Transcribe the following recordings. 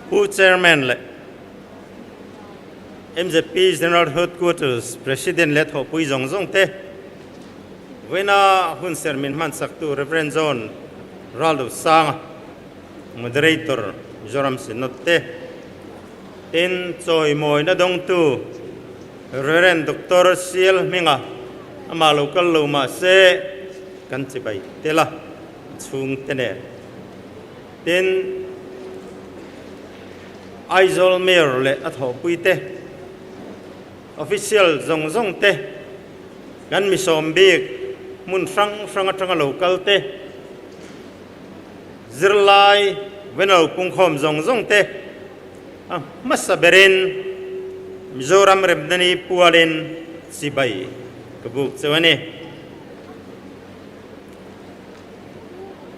Pu Chairman leh mzp General Headquarters President leh thawhpui zawng zawng te, Vawiina hun ser min hman chaktu Rev. John Ralosanga, Moderator Mizoram Synod te, tin chawimawina dawngtu Rev. Doctor Sial Hminga amah lo kal lo mah se kan chibai tel a, a chhungte nen. Tin, Aizawl Mayor leh a thawhpui te, Official zawng zawng te, kan misawm bik hmun hrang hrang atanga lo kal te, zirlai venlo pungkhawm zawng zawng te a hmasa ber in Mizoram remna ni pual in chibai ka buk chu a ni.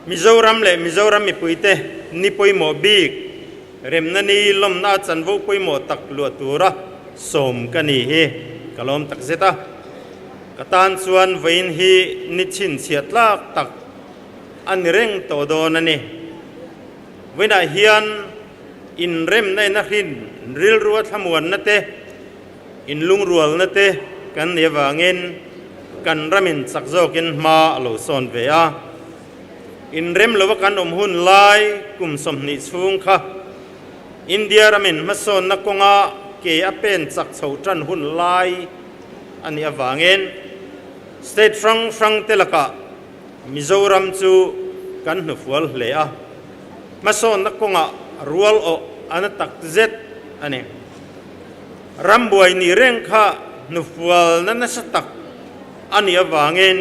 Mizoram leh Mizoram mipuite ni pawimawh bik remna ni lawmna a chanvo pawimawh tak luah tura sawm ka nih hi ka lawm tak zet a. Ka tan chuan vawiin hi ni chhinchhiah tlak tak a ni reng tawh dawn a ni. Vawiinah hian inremna ina hrin rilru a thlamuanna te, In lungrualna te kan nei avangin kan ram in chak zawkin hma a lo sawn ve a. In rem lova kan awm hun lai kum sawmhnih chhung kha India ram in hmasawnna kawnga ke a pen chak chho tan hun lai a nih avangin state hrang hrang te lakah Mizoram chu kan hnufual hle a. Hmasawnna kawngah rual awh a na tak zet a ni. Rambuai nih reng kha hnufualna nasa tak a nih avangin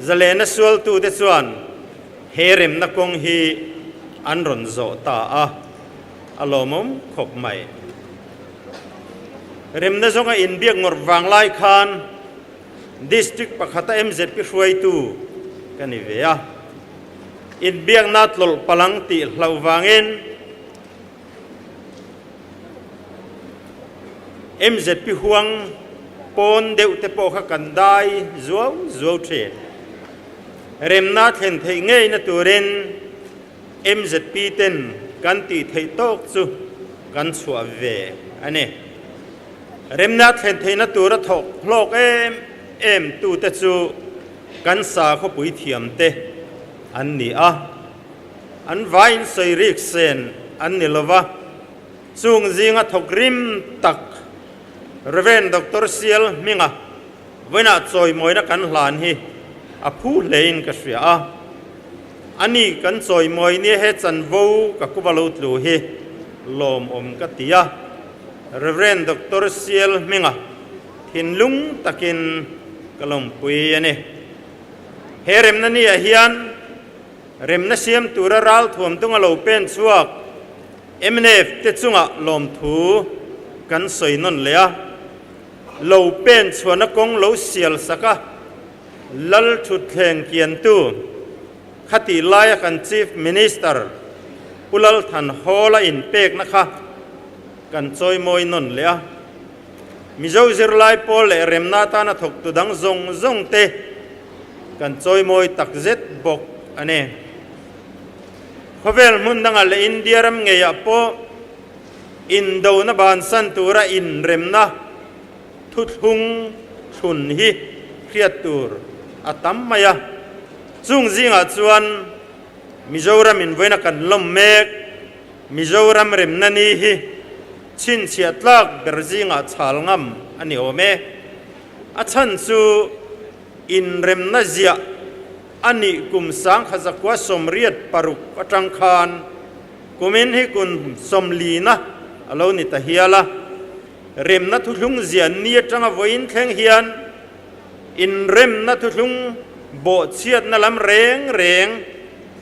Zalena sualtute chuan he remna kawng hi an rawn zawh ta a, a lawmawm khawp mai. Remna zawnga inbiak ngawrh vang lai khan District pakhata MZP hruaitu ka ni ve a, inbiakna tlawlh palang tih hlauh vangin, Mzp huang pawn deuh te pawh kha kan dai zuau zuau thin. Remna thlen theih ngei na turin mzp ten kan tih theih tawk chu kan chhuah ve a ni. Remna thlen theih na tura thawk hlawk em em tu te chu kan sa khawpui thiam te an ni a. An vai in sawi rîk sen an ni lo va, chûng zînga thawk rim tak Rev. Doctor Sial Hminga vawiinah chawimawina kan hlan hi a phû hle in ka hria a. A ni kan chawimawi nia he chanvo ka kuva lo tlu hi lawmawm ka ti a, Rev. Doctor Sial Hminga thinlung takin ka lawmpui a ni. He remna ni ah hian, Remna siam tura ral thuam tung a lo pen chhuak mnf te chunga lawmthu kan sawi nawn leh a, lo pen chhuahna kawng lo sial sak a lal thutthleng kiantu khati laia kan Chief Minister Pu Lalthanhawla inpekna kha kan chawimawi nawn leh a. Mizo zirlai pawl leh remna atana thawktu dang zawng zawng te Kan chawimawi tak zet bawk a ni. Khawvel hmun dangah leh India ram ngeiah pawh indona bansan tura inremna thuthlung thlun hi hriat tur a tam mai a. Chung zingah chuan Mizoram invawiina kan lawm mek Mizoram remna ni hi chhinchhiah tlak ber zingah chhal ngam a ni awm e. A chhan chu inremna ziah a nih kum sangkhat zakhua sawmriat paruk atang khan kumin hi kun sawmlina a lo ni ta hial a, remna thuhlung ziah ni atanga vawiin thleng hian inremna thuhlung bawhchhiatna lam reng reng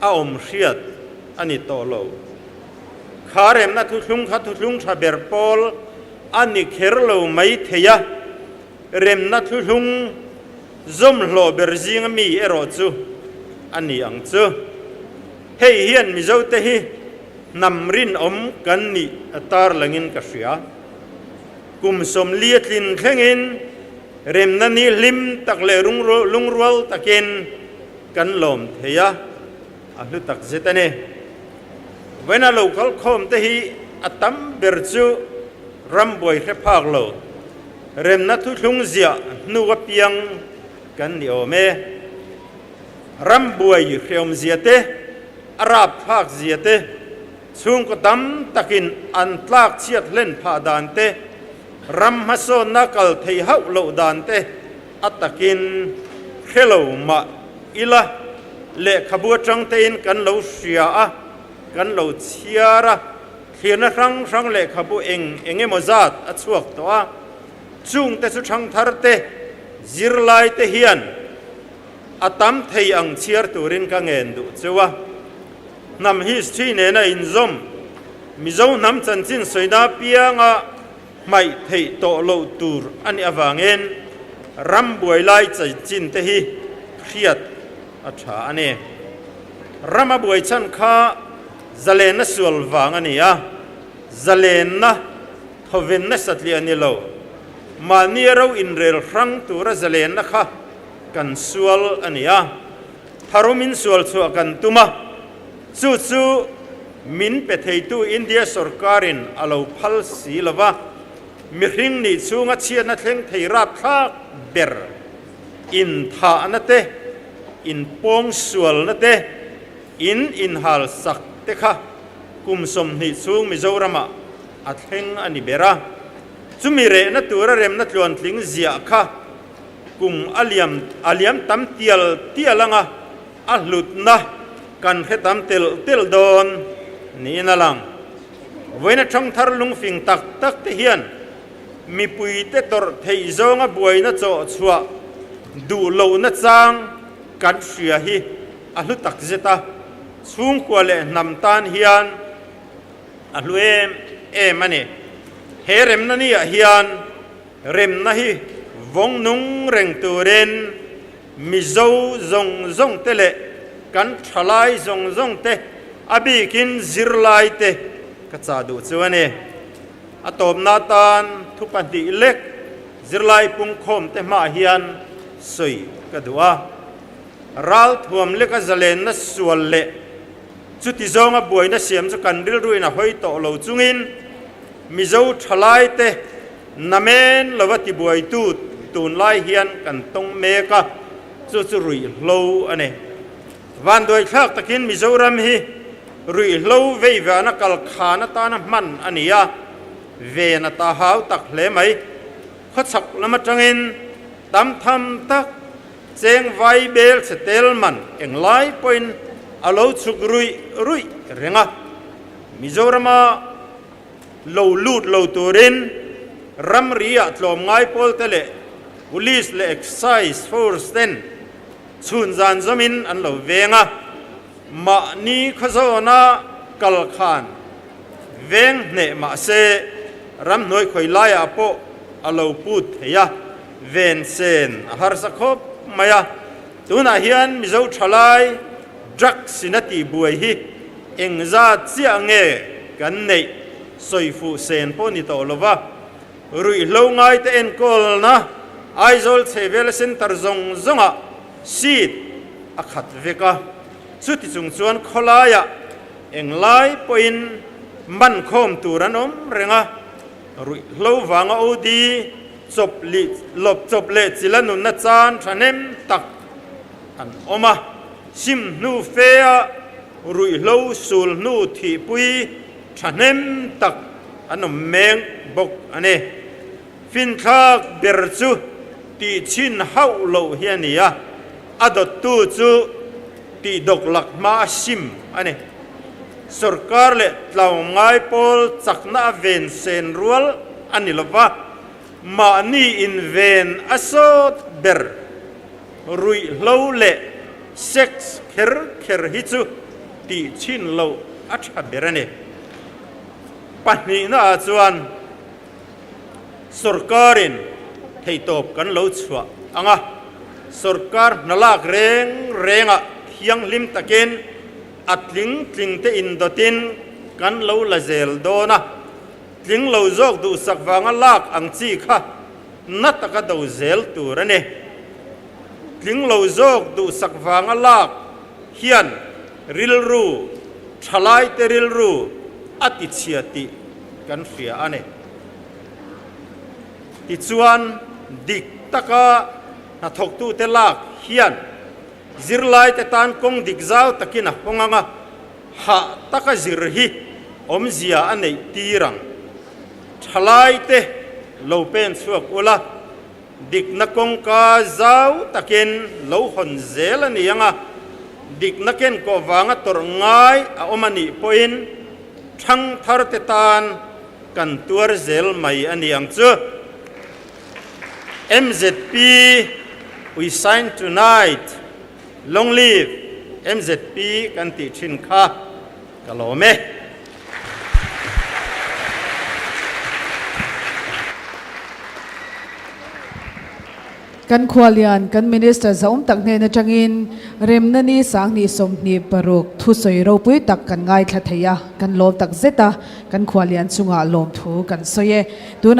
a awm hriat a ni tawh lo. Kha remna thuhlung kha thuhlung tha ber pawl A ni kher lo mai thei a, remna thuhlung zawmhlawh ber zinga mi erawh chu a ni ang chu. Hei hian Mizote hi hnam rinawm kan nih a tarlangin ka hria. Kum sawmlia tlin thlengin remna ni hlim tak leh lungrual takin kan lawm thei a, A hlu tak zet a ni. Vawina lo kal khawm te hi a tam ber chu ram buai hre phak lo remna thuthlung ziah hnu apiang kan ni awm e. Ram buai hreawmzia te, a rap phak zia te, chhungkaw tam takin an tlak chhiat hlen phah dan te, ram hmasawnna kal thei hauh loh dan te, A takin, Hrelo mah ila, lehkhabu atangtein kan lo hria a, kan lo chhiar a, thlirna hrang hrang lehkhabu eng eng emaw zat a chhuak tawh a, chungte chu thangtharte, zirlaite hian a tam thei ang chhiar turin ka ngen duh cheu a. Hnam history nena inzawm Mizo hnam chanchin sawina apianga hmaih theih tawh lo tur a nih avangin ram buailai chaichin te hi hriat a tha a ni. Ram a buai chhan kha zalenna sual vang a ni a, zalenna thawven nasa tlih a ni lo. Mahni a ro inrel hrang tura zalenna kha kan sual a ni a, tharum in sual chhuah kan tum a, Chu chu min pe theitu India sorkarin a lo phal si lo va, mihring nih chhung a chhiatna thleng thei rap thlak ber, in thahna te, in pawng sualna te, in inhal sak te kha kum sawmhnih chhung Mizoramah a thleng a ni ber a. Chumi rehna tura remna tluantling ziah kha kum a liam a liam tam tial tial ang a. A hlutna kan hretam tel tel dawn niin a lang. Vawiina thangthar lungfing tak tak te hian mipuite tawrh theih zawnga buaina chawhchhuah duh lohna chang kan hria hi a hlu tak zet a, chhungkua leh hnam tan hian a hlu em em a ni. He remna ni ah hian remna hi vawng nung reng turin, Mizo zawng zawng te leh kan thalai zawng zawng te a bik in zirlai te ka chah duh chu a ni. A tawpna atan thu pahnih lek zirlai pungkhawm te hmaah hian sawi ka duh a. Ralthuam leka zalenna sual leh chuti zawnga buaina siam chu kan rilruin a hawi tawh lo chungin Mizo thalai te, Na men lova tibuaitu tunlai hian kan tawng mek a, chu chu ruihhlo a ni. Vanduaithlak takin Mizoram hi ruihhlo veiviahna kalkhan atana hman a ni a, ven a ta hau tak hle mai. Khawchhak lam atangin tam tham tak chengvai bel che tel man englai pawhin a lo chhuk ruih ruih reng a. Mizorama lo lut lo turin ramriah tlawmngai pawlte leh police leh excise force ten chhun zan zawmin an lo veng a, mahni khaw zawna kal khan veng hneh mahse ramhnuai khawi laiah pawh a lo put thei a, vensen a harsa khawp mai a. Tunah hian Mizo thalai drugs ina tihbuai hi engzat chiah nge kan neih sawi fuh sen pawh ni tawh lova, ruihhlo ngaite enkawlna Aizawl chhehvela centre zawng zawngah seat a khat vek a, chuti chung chuan khawlaiah englai pawhin man khawm tur an awm reng a, ruihhlo vanga OD, chawp lih lawp chawp leh chila nunna chan thahnem tak an awm a, chim hnu fe a ruihhlo sul hnu thihpui thahnem tak an awm meng bawk a ni. Finthlak ber chu tihchhin hauh loh hi a ni a, a dawttu chu tihdawk lak hma a hrim a ni. Sorkar leh tlawngai pawl chakna a ven sen rual. A ni lova, mahni inven a sawt ber, ruihhlo leh sex kher kher hi chu tih chhin loh a tha ber a ni. Pahnihna ah chuan sorkarin theitawp kan lo chhuah ang a, sorkar hnalak reng rengah thianghlim takin a tling tling te in dawt in kan lo la zel dawn a. Tling lo zawk duhsak vanga lak ang chi kha na taka do zel tur a ni. Tling lo zawk duhsak vanga lak hian rilru, thalaite rilru a tichhia tih kan hria a ni. Tichuan, dik taka hnathawktute lak hian zirlaite tan kawng dik zau takin a haw ngang a. hah taka zir hi awmzia a neih tir ang. Thalai te lo pen chhuak ula, dikna kawngka zau takin lo hawn zel a ni ang a, dikna ken kawh vanga tawrh ngai a awm a nih pawhin thangthar te tan kan tuar zel mai a ni ang chu. Mzp, We sign tonight. Long live mzp kan tih thin kha ka lawm e. Kan khua lian kan Minister zaum tak hnen atangin remna ni sanghnih sawmhnih paruk thusawi ropui tak kan ngaithla thei a, kan lawm takzet a kan khua lian chungah lawmthu kan sawi e. Tunah.